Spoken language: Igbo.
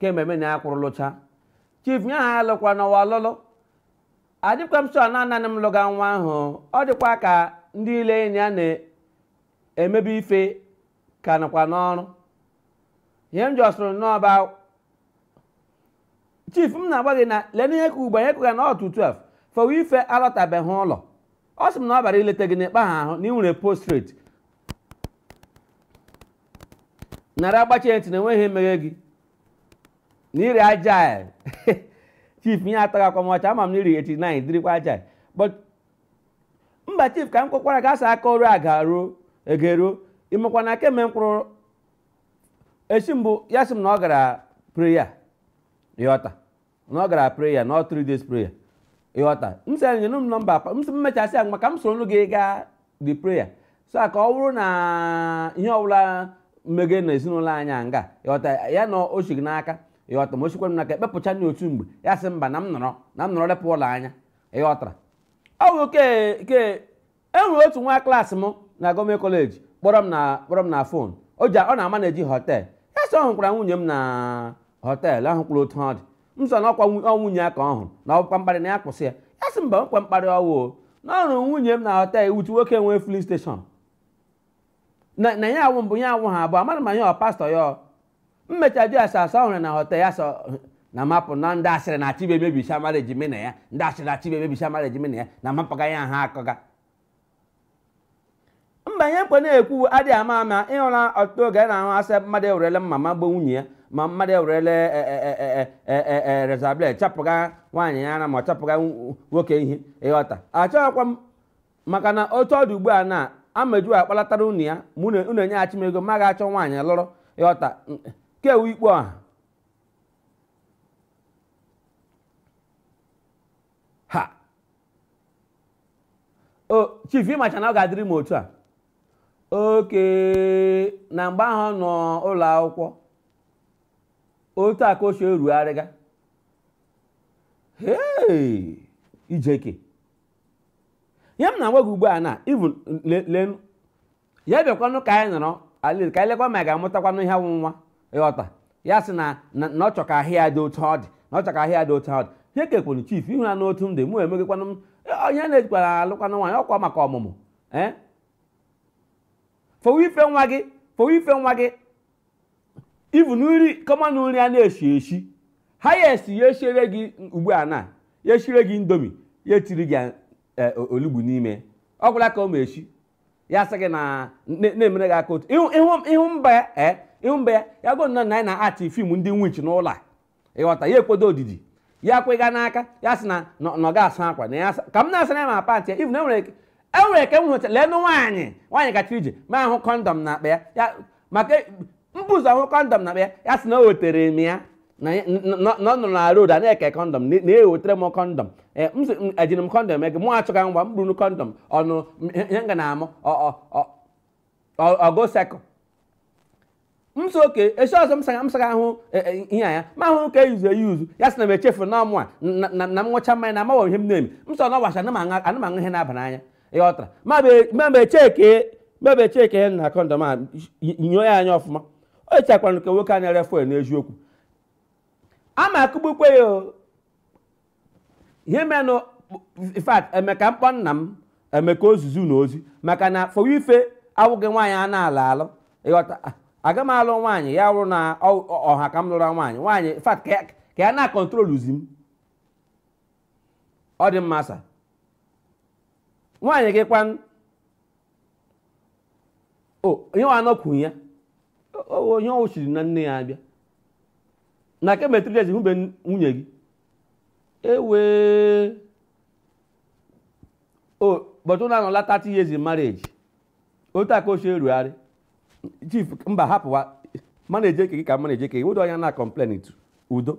kemgbe mụ na ya kwụrụ lụcha chief nye ha alụkwanụ nwa ọlụlụ adịkwa m sure na nanị m lụga nwa ahụ ọ dịkwa ka ndị ile enyi ya na-emebi ife ka nọkwa n'ọrụ ihe m jọsịrị n'ọba chief m na-agwa gị na leenụ ihe ka ugbu a ihe kụga na ọ to 12 for where ify alọtabeghị ụlọ ọ sị m na ọ bịara ileta gị n'ịkpa ha ahụ na ị nwere postrate nara agbachi ya ntị na o nweghị ihe mega gị na ị rị agile chief ihe a atọgakwa m ọchị ama m na ị rị 89 dịrịkwa agile. but mba chief ka m kwekwara gị asa aka ọrụ a ga-aruo egeruo ịmakwa na kemgbe m kwụrụ esi mbụ ya sị m na ọ gara prayer ịghọta na ọ gara prayer na ọ three days prayer ịghọta m sị ya nyere m nọmba akwa m sị m mechaa sị ya ka m soro nụ gị gaa the prayer so ka ọ wụrụ na ihe ọwụla mega na ezinụlọ anyị a nga ịghọta ya na o si gị n'aka ịghọta ma o sikwa m n'aka e kpepụcha na otu mgbe ya sị mba na m nọrọ na m nọrọ lepụ ụlọ anya ịghọtara ọ bụ ke ke e nwere otu nwa class m na government college kpọrọ m na kpọrọ m na phone o ji ọ na-amanage hotel ya sị ọ hụkwara nwunye m na hotel ọ hụkwara otu ọ dị m sị na ọkwa nwu- ọ nwunye ya ka ọ hụrụ na ọkwa mkparị na ya kwụsị ya ya sị mba ọkwa mkparị ọwụ o. na ọ hụrụ nwunye m na hotel otu nwoke nwe filling station na na ya awụ mbụ ya awụha abụọ amaghị m ma ya wụ pastor ya o m mecha jụọ ya sị a sị a hụrụ ya na hotel ya sị na m hapụ na ndị asịrị na-achọ imebisị marriage mụ na ya ndị asịrị na-achọ imebisị marriage mụ na ya na m hapụga ya ha akọga mba ihe nkwe na-ekwu adịghị ama ama ịhụla ọtụtụ oge a na-anụ a sị mmadụ ewerele mma magbuo nwunye ya ma mmadụ ewerele razor blade chapụga nwaanyị ya ara ma ọ chapụga nwoke ihe ịghọta achọghịkwa m maka na otu ọ dị ugbu a na ameju akpọlatara unu ya ma unu unu enyeghachi m ego m gaa chọọ nwaanyị lụrụ ịghọta kewu ikpe ọha ha o chief ịmacha na ọ ga-adịrị m otu a okay na mgbe ahụ ọ nọ ụlọ akwụkwọ otu a ka o si erugharịga hei ijeke ihe m na-agwa gị ugbu a na even lee ya bịakwanụ ka anyị nọrọ alil ka anyị lekwa ma anyị ga-amụtakwanụ ihe wụ nwa ịghọta ya sị na na na ọ chọ ka ahụ ya dị otu ọ dị na ọ chọ ka ahụ ya dị otu ọ dị ihe kekwenu chief ịhụna otu m dị mụ emegịkwanụ m ihe a na-ejikwa alụkwanụ nwaanyị ọkwa maka ọmụmụ ee for where ify nwa gị for where ify nwa gị ivu nri kama na nri a na-esi esi ha ya esi ya esiere gị ugbu a na ya esire gị Indomie ya etiri gị e, olugbu n'ime ọ gwụla ka ọ ma esi ya sị gị na na-emere gị aka otu ịhụ mba ya e, ịhụ mba ya ya gụ na anyị na-achị film ndị witch n'ụlọ a ịghọta ya ekwedo odidi ya kwega n'aka ya sị na na ọ ga-asa akwa na ya ka m na-asara ya ma pant ya ị vụ na enwere enwere eke m hụcha leenụ nwaanyị nwaanyị gachiri ije m ahụ condom n'akpa ya maka e, m bu ụzọ ahụ condom n'akpa ya ya sị na o wetere m ya na ọ nọ na road a na-eke condom na-ewetere m condom e, m sị ejiri m condom ege mụ achọga ngwa m buru condom ọnụ ihe nga na-amụ ọgo sekụ m sị okay esi ọzọ m saga m saga ahụ e, e, ihe ya m ahụ nke eyuzu eyuzu ya sị na m echefu na ọ mụwa na- na na m ṅụcha mmanya na amaghị ihe m na-eme m sị na ọ wụ asị ana m aṅụ- ana m aṅụ ihe na-aba n'anya ya ọtara ma be- ma be cheke ma be cheke ya na condom a y- nyoo ya anya ọfụma o chekwara nke nwoke a na-ere fuel n'eziokwu ama akụgbukwe ya o ihe menụ in fact Emeka m kpọ nna m Emeka ozizi na ozi maka na fọwa ife awụghị nwaanyị a na-alụ alụ ịghọta ah, aga m alụ nwaanyị ya wụrụ na ọ- ọ- ọ ha ka m lụrụ nwaanyị nwaanyị in fact ka ya- ka ya na-controluzi m ọ dị mma sir nwaanyị gị kwanụ onye nwa anọkwu ya onye ọ wụ siri na nne ya abịa na kemgbe three years hụbe nwunye gị ewee but unu anọla 30 years in marriage otu aka ochie erugharị chief mba hapụwa m na-eje eke gị ka m na-eje eke gị wedo anya na complaint udo